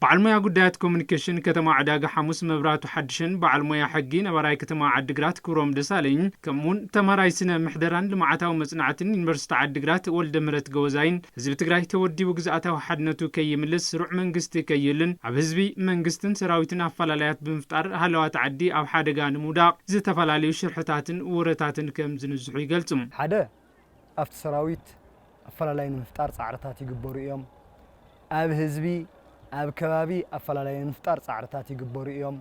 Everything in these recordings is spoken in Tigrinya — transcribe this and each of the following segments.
በዓል ሞያ ጉዳያት ኮሚኒኬሽን ከተማ ዕዳጋ ሓሙስ መብራቱ ሓድሽን በዓል ሞያ ሕጊ ነባራይ ከተማ ዓዲግራት ክብሮም ደሳለኝ ከምኡውን ተምሃራይ ስነ ምሕደራን ልምዓታዊ መፅናዕትን ዩኒቨርሲቲ ዓዲግራት ወልደ ምህረት ገወዛይን ህዝቢ ትግራይ ተወዲቡ ግዝኣታዊ ሓድነቱ ከይምልስ ስሩዕ መንግስቲ ከይህልን ኣብ ህዝቢ መንግስትን ሰራዊትን ኣፈላላያት ብምፍጣር ሃለዋት ዓዲ ኣብ ሓደጋ ንምውዳቕ ዝተፈላለዩ ሽርሕታትን ወረታትን ከም ዝንዝሑ ይገልፁ። ሓደ ኣብቲ ሰራዊት ኣፈላላይ ንምፍጣር ፃዕርታት ይግበሩ እዮም። ኣብ ህዝቢ፣ ኣብ ከባቢ ኣፈላላይ ንምፍጣር ፃዕርታት ይግበሩ እዮም።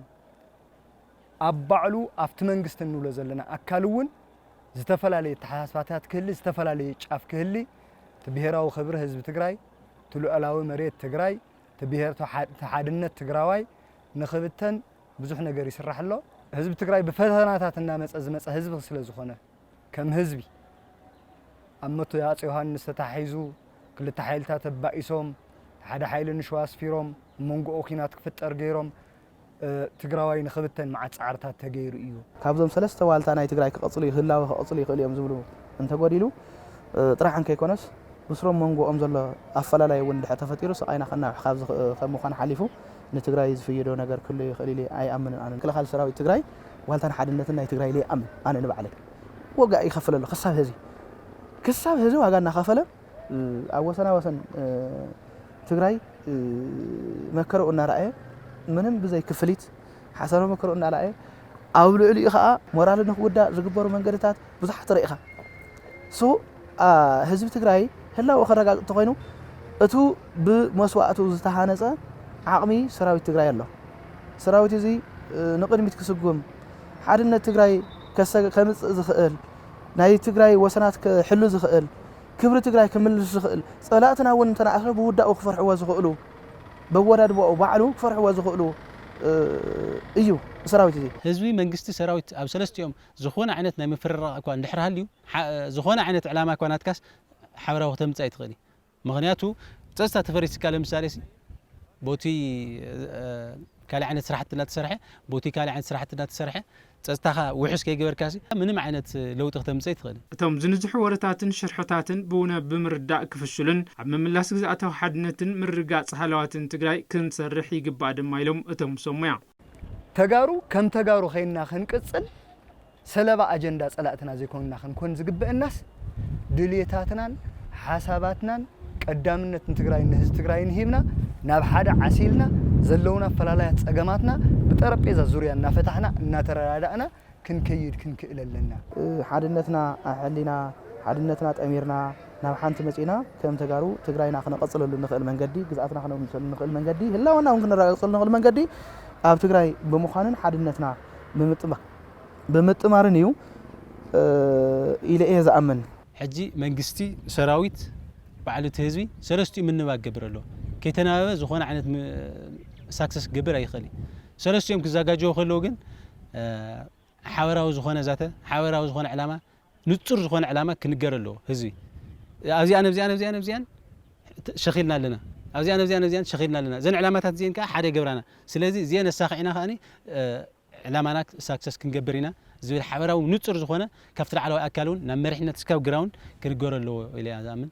ኣብ ባዕሉ ኣብቲ መንግስቲ እንብሎ ዘለና ኣካል እውን ዝተፈላለየ ኣተሓሳስባታት ክህሊ፣ ዝተፈላለየ ጫፍ ክህሊ፣ እቲ ብሄራዊ ክብሪ ህዝቢ ትግራይ፣ እቲ ልዑላዊ መሬት ትግራይ፣ እቲ ብሄር እቲ ሓድነት ትግራዋይ ንክብተን ብዙሕ ነገር ይስራሕ ኣሎ። ህዝቢ ትግራይ ብፈተናታት እናመፀ ዝመፀ ህዝቢ ስለዝኾነ፣ ከም ህዝቢ ኣብ መቱይ ሃጽ ዮሃንስ ተታሒዙ ክልተ ሓይልታት ኣባኢሶም ሓደ ሓይሊ ንሸዋ ኣስፊሮም ኣብ መንጎኡ ኩናት ክፍጠር ገይሮም ትግራዋይ ንክብተን መዓት ጻዕርታት ተገይሩ እዩ። ካብዞም ሰለስተ ዋልታ ናይ ትግራይ ክቐጽሉ እዩ ህላወ ክቐጽሉ ይኽእሉ እዮም ዝብሉ እንተጎዲሉ ጥራሕ እንከይኮነስ ብስሮም መንጎኦም ዘሎ ኣፈላላይ እውን እንድሕር ተፈጢሩ ስቓይና ከናውሕ ካብ ምዃን ሓሊፉ ንትግራይ ዝፍይዶ ነገር ክህሉ ይኽእል ኢለ ኣይኣምንን ኣነ። ምክልኻል ሰራዊት ትግራይ ዋልታን ሓድነትን ናይ ትግራይ ኢለ ይኣምን ኣነ ንባዕለይ ዋጋ ይኸፍል ኣሎ ክሳብ ህዚ ክሳብ ህዚ ዋጋ እናኸፈለ ኣብ ወሰና ወሰን ትግራይ መከረኡ እናረኣየ ምንም ብዘይ ክፍሊት ሓሰረ መከረኡ እናረኣየ ኣብ ልዕሊኡ ከዓ ሞራል ንክውዳእ ዝግበሩ መንገድታት ብዙሓት ርኢኻ ህዝቢ ትግራይ ህላወኡ ከረጋግፅ እንተኾይኑ እቱ ብመስዋእቱ ዝተሃነፀ ዓቕሚ ሰራዊት ትግራይ ኣሎ። ሰራዊት እዚ ንቕድሚት ክስጉም ሓድነት ትግራይ ከምፅእ ዝኽእል ናይ ትግራይ ወሰናት ክሕሉ ዝኽእል ክብሪ ትግራይ ክምልስ ዝኽእል ፀላእትና እውን እንተነኣሰ ብውዳኡ ክፈርሕዎ ዝኽእሉ በወዳድባኡ ባዕሉ ክፈርሕዎ ዝኽእሉ እዩ ሰራዊት እዚ ህዝቢ መንግስቲ ሰራዊት ኣብ ሰለስቲኦም ዝኾነ ዓይነት ናይ ምፍርራቕ እኳ እንድሕር ሃልዩ፣ ዝኾነ ዓይነት ዕላማ እኳ ናትካስ ሓበራዊ ክተምጽእ ኣይትኽእል ኢዩ። ምኽንያቱ ጸጽታ ተፈሪስካ ለምሳሌሲ ቦቲ ካልእ ዓይነት ስራሕቲ እንዳተሰርሐ ቦቲ ካልእ ዓይነት ስራሕቲ እንዳተሰርሐ ጸጽታኻ ውሑስ ከይገበርካሲ ምንም ዓይነት ለውጢ ክተምጽእ ኣይትኽእልን። እቶም ዝንዝሑ ወረታትን ሽርሕታትን ብውነ ብምርዳእ ክፍሽሉን ኣብ ምምላስ ግዝኣታዊ ሓድነትን ምርግጋጽ ሃለዋትን ትግራይ ክንሰርሕ ይግባእ ድማ ኢሎም እቶም ሰብ ሞያ። ተጋሩ ከም ተጋሩ ዄንና ክንቅጽል ሰለባ ኣጀንዳ ጸላእትና ዘይኮንና ክንኮን ዝግበእናስ ድልየታትናን ሓሳባትናን ቀዳምነት ንትግራይን ንህዝቢ ትግራይን ሂብና ናብ ሓደ ዓሲልና ዘለዉና ኣፈላላያት ጸገማትና ብጠረጴዛ ዙርያ እናፈታሕና እናተረዳዳእና ክንከይድ ክንክእል ኣለና። ሓድነትና ኣሐሊና ሓድነትና ጠሚርና ናብ ሓንቲ መፂእና ከም ተጋሩ ትግራይና ክነቐፅለሉ እንኽእል መንገዲ ግዝኣትና ክነውንሰሉ እንኽእል መንገዲ ህላወና እውን ክነረጋግፀሉ እንኽእል መንገዲ ኣብ ትግራይ ብምዃንን ሓድነትና ብምጥማርን እዩ ኢለ እየ ዝኣምን። ሕጂ መንግስቲ፣ ሰራዊት፣ ባዕሉ እቲ ህዝቢ ሰለስቲኡ ምንባግ ክገብር ኣለዎ። ከይተናበበ ዝኾነ ዓይነት ሳክሰስ ክገብር ኣይኽእል እዩ። ሰለስቲኦም ክዘጋጀዉ ከለዉ ግን ሓበራዊ ዝኾነ ዛተ፣ ሓበራዊ ዝኾነ ዕላማ፣ ንጹር ዝኾነ ዕላማ ክንገር ኣለዎ ህዝቢ። ኣብዚኣን ኣብዚኣን ኣብዚኣን ኣብዚኣን ሸኺልና ኣለና ኣብዚኣን ኣብዚኣን ኣብዚኣን ሸኺልና ኣለና እዘን ዕላማታት እዚአን ከዓ ሓደ ይገብራና ስለዚ እዚአን ኣሳኺዕና ከዓ ዕላማና ሳክሰስ ክንገብር ኢና ዝብል ሓበራዊ ንፁር ዝኾነ ካብቲ ላዕለዋይ ኣካል እውን ናብ መሪሕነት እስካብ ግራውንድ ክንገሮ ኣለዎ ኢለ እያ ዝኣምን